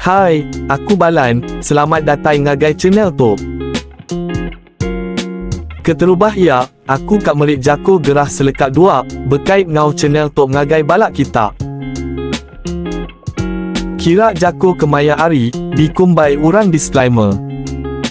Hai, aku Balan, selamat datai ngagai channel tu. Keterubah ia, aku ka meri jako gerah seleka dua, bekait ngau channel tu ngagai bala kita. Kira jako kemaya ari, dikumbai urang disclaimer.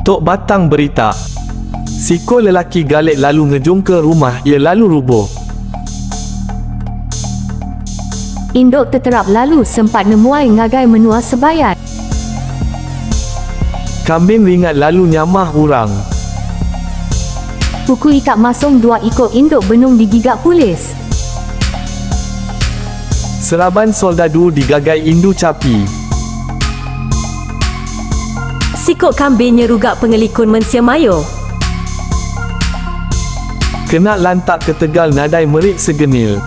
Tu batang berita. Siku lelaki galik lalu ngejungka rumah iya lalu rubuh. Indu teterap lalu sempat nemuai ngagai menua Sebayan. Kambing ringat lalu nyamah urang. Puku ikat masung dua iko induk benung digiga pulis. Seraban soldadu digagai indu capi. Siko kambing nyeruga pengelikun mensia mayo. Kena lantak ketegal nadai merit segenil.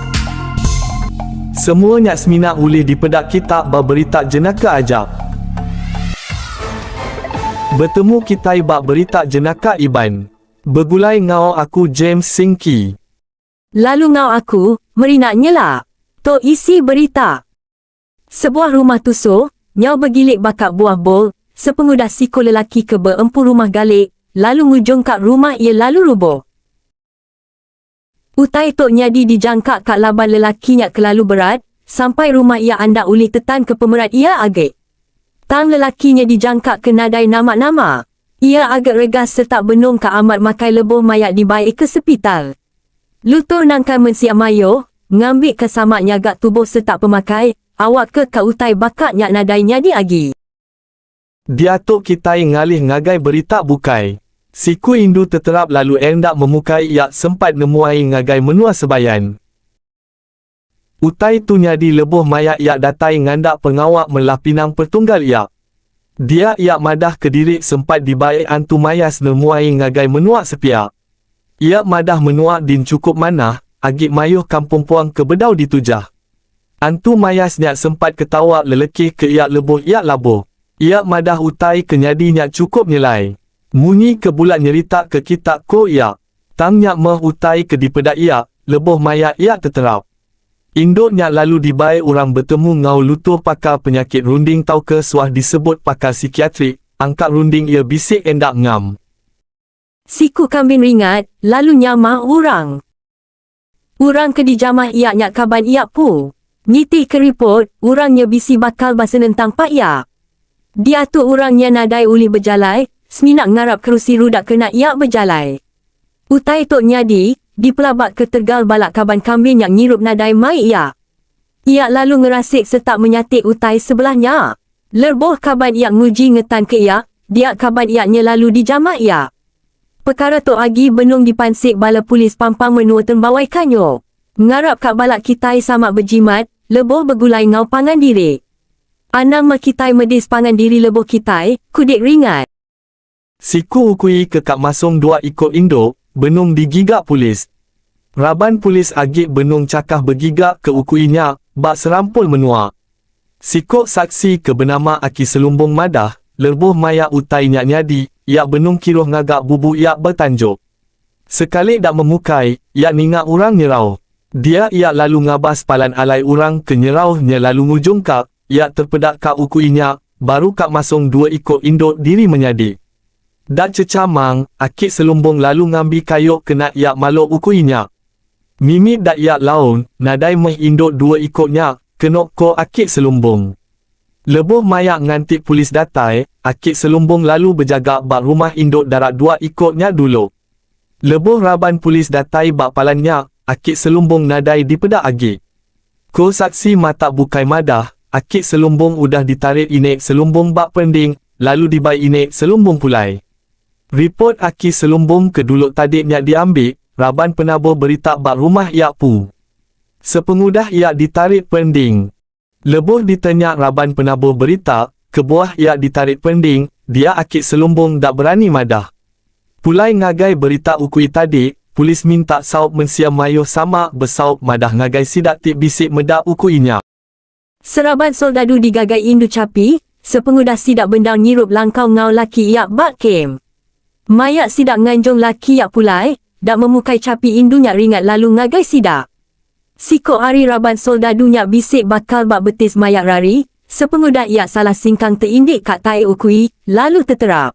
Semua nya semina ulih dipeda kita ba berita jenaka aja. Betemu kitai ba berita jenaka Iban. Begulai enggau aku James Singki. Lalu enggau aku, Merina Nyela. To isi berita. Sebuah rumah tuso, nyau begilik baka buah bol, sepengudah siko lelaki ke beempu rumah galik, lalu ngujongka rumah iya lalu ruboh. Utai tu nyadi dijangka ka laban lelaki nya kelalu berat sampai rumah iya andak ulih tetan ke pemerat iya agi. Tang lelaki nya dijangka ke nadai nama-nama. Iya agi regas sereta benung ka amat makai lebuh maya dibai ke sepital. Lutur nangkan mensia mayuh, ngambi ka sama nyaga tubuh sereta pemakai awak ke ka utai baka nya nadai nyadi agi. Diatu kitai ngalih ngagai berita bukai, siku indu teterap lalu enda memukai iya sempat nemuai ngagai menua Sebayan. Utai tu nyadi lebuh maya iya datai ngandak pengawa melah pinang pertunggal iya. Dia iya madah kediri sempat dibai Antu Mayas nemuai ngagai menua sepiak. Iya madah menua din chukup manah agi mayuh kampung puang ke bedau ditu jah. Antu Mayas nya sempat ketawa lelekih ke iya lebuh iya labuh. Iya madah utai ke nyadi nya chukup nyelai. Munyi ke bula nyerita ke kita ko iya. Tang nya meh utai ke dipeda iya lebuh maya iya teterap. Indu nya lalu dibai orang betemu ngau lutur pakar penyakit runding tauka suah disebut pakar sikiatrik, angka runding iya bisik enda ngam. Siku kambing ringat, lalu nyamah urang. Urang ke dijamah iya nya kaban iya pu. Nitih ke ripot, urang nya bisi bakal ba senentang pak iya. Diatu urang nya nadai ulih bejalai, semina ngarap kerusi ruda kena iya bejalai. Utai tu nyadi, dipelabaka tegal bala kaban kambing nya ngirup nadai mai iya. Iya lalu ngerasik serta menyatik utai sebelah nya. Lerboh kaban iya nguji ngetan ke iya, dia kaban iya nya lalu dijamah iya. Pekara tu agi benung dipansik bala polis pampang menua Tembawai Kanyo. Ngarap ka balak kitai sama bejimat, leboh begulai ngau pangan diri. Anang mah kitai medis pangan diri leboh kitai, ku Dik Ringat. Siku ukui ke ka masung dua iku indu benung digiga polis. Raban polis agi benung chakah begiga ke ukui nya ba serampul menua. Siku saksi ke benama Aki Selumbung madah, lerbuh maya utai nya nyadi, iya benung kiruh ngaga bubu iya ba tanjok. Sekali da memukai, iya ninga orang nyerauh. Dia iya lalu ngabas palan alai orang ke nyerauh nya lalu ngujungka Iya terpeda ka uku inya, baru ka masong dua iko indo diri menyadi. Da cecha mang, aki selumbong lalu ngambi kayo kena iya malo uku inya. Mimi da iya laun, nadai meh indo dua iko nya, keno ko aki selumbong. Leboh maya nganti pulis datai, aki selumbong lalu bejaga ba rumah indo dara dua iko nya dulo. Lebuh raban polis datai ba palan nya, aki selumbung nadai dipeda agi. Ku saksi mata bukai madah, aki selumbung udah ditarit ini selumbung ba perending lalu dibai ini selumbung pulai. Ripot aki selumbung ke dulu tadi nya diambi raban penabur berita ba rumah iya pu. Sepengudah iya ditarit perending. Lebuh ditanya raban penabuh berita, kebuah iya ditarit pending, dia aki Selumbung enda berani madah. Pulai ngagai berita ukui tadi, polis minta saup mensia mayuh sama besaup madah ngagai sida ti bisi meda ukui nya. Seraban soldadu digagai indu chapi, sepengudah sida bendar ngirup langkau enggau laki iya ba kem. Maya sida nganjung laki iya pulai, da memukai chapi indu nya ringat lalu ngagai sida. Siko ari raban soldadu nya bisi bakal ba betis mayak rari, sepengudah iya salah singkang teindik ka tae ukui, lalu teterap.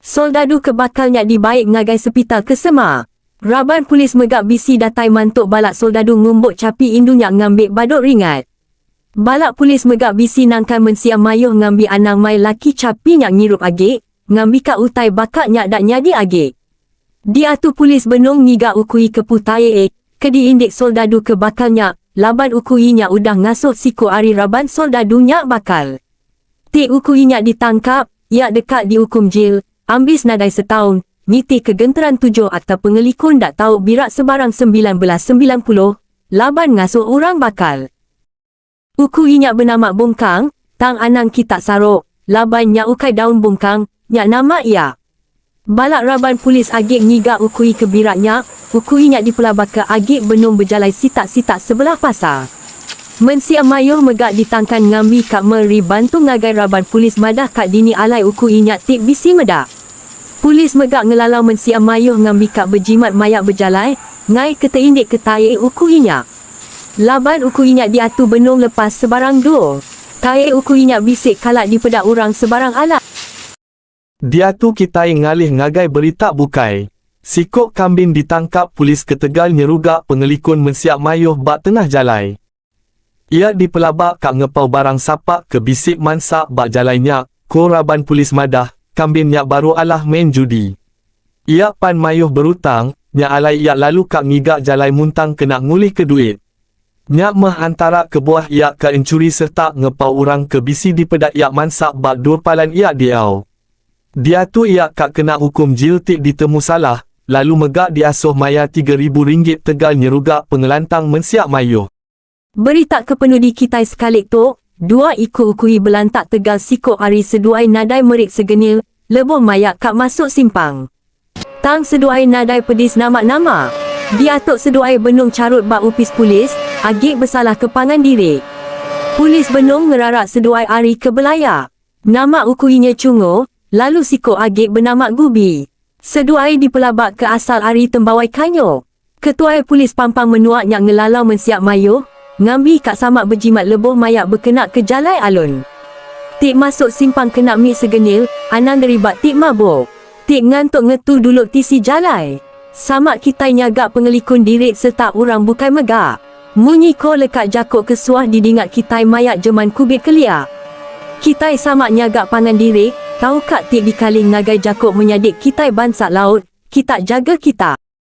Soldadu ke bakal nya dibaik ngagai sepital ke semak. Raban pulis mega bisi datai mantok balak soldadu ngumbok chapi indu nya ngambik badok ringat. Balak pulis mega bisi nangkan mensia mayoh ngambi anang mai laki chapi nya ngirup agik, Ngambika utai baka nya da nyadi agi. Diatu pulis benung ngiga ukui ke putai e ke diindik soldadu ke bakal nya laban ukui nya udah ngasuh siku ari raban soldadu nya bakal. Ti ukui nya ditangkap, iya deka diukum jil ambis nadai setaun nitih ke genteran tujuh Akta Pengeliku Enda Tau Birak Sebarang sembilan belas semilan puluh laban ngasuh orang bakal. Uku inya benama bungkang, tang anang kita sarok, laban nya ukai daun bungkang, nya nama iya. Balak raban pulis agik ngiga ukui ke birak nya, uku inya dipelabaka agik benung bejalai sitak-sitak sebelah pasar. Mensia mayuh mega ditangkan ngambi ka me ri bantu ngagai raban pulis madah ka dini alai uku inya ti bisi meda. Pulis mega ngelalau mensia mayuh ngambi ka bejimat maya bejalai, ngai ke teindik ke taik uku inya. Laban uku inya diatu benung lepas sebarang du. Tae uku inya bisi kala dipeda urang sebarang ala. Diatu kitai ngalih ngagai berita bukai, siko kambing ditangkap pulis ketegal nyeruga pengelikun mensia maioh ba tengah jalai. Ia dipelaba ka ngepau barang sapak ke bisi mansa ba jalai nya, ko raban pulis madah, kambing nya baru alah main judi. Iya pan mayuh berutang, nya alai iya lalu ka ngiga jalai muntang kena ngulihka duit. Nya meh antara kebuah iya ka enchuri serta ngepau orang ke bisi dipeda iya mansa ba dua palan iya diau. Diatu iya ka kena ukum jil ti ditemu salah, lalu mega diasuh mayar tiga ribu ringgit tegal nyeruga pengelantang mensia mayuh. Berita ke penudi kitai sekalik tu, dua iku ukui belantak tegal siko ari seduai nadai merit segeni leboh maya ka masuk simpang. Tang seduai nadai pedis nama-nama. Diatok seduai benung charut ba opis polis, agi besalah ke pangan diri. Polis benung ngerarak seduai ari ke belaya. Nama ukui nya Chungo, lalu siko agi benama Gubi. Seduai dipelabak ke asal ari Tembawai Kanyok. Ketuai Polis Pampang Menua nya ngelalau mensia mayuh ngambi ka samak bejimat lebuh maya bekena ke jalai alun ti masuk simpang kena mi segenil anang deriba ti mabuk ti ngantuk ngetu dulu tisi jalai. Samak kitai nyaga pengelikun diri sereta urang bukai mega. Munyi ko leka jako ke suah didinga kitai maya jeman kubit kelia. Kitai samak nyaga pangan diri, tauka ti dikaling ngagai jako menyadi kitai bansa laut, kita jaga kita.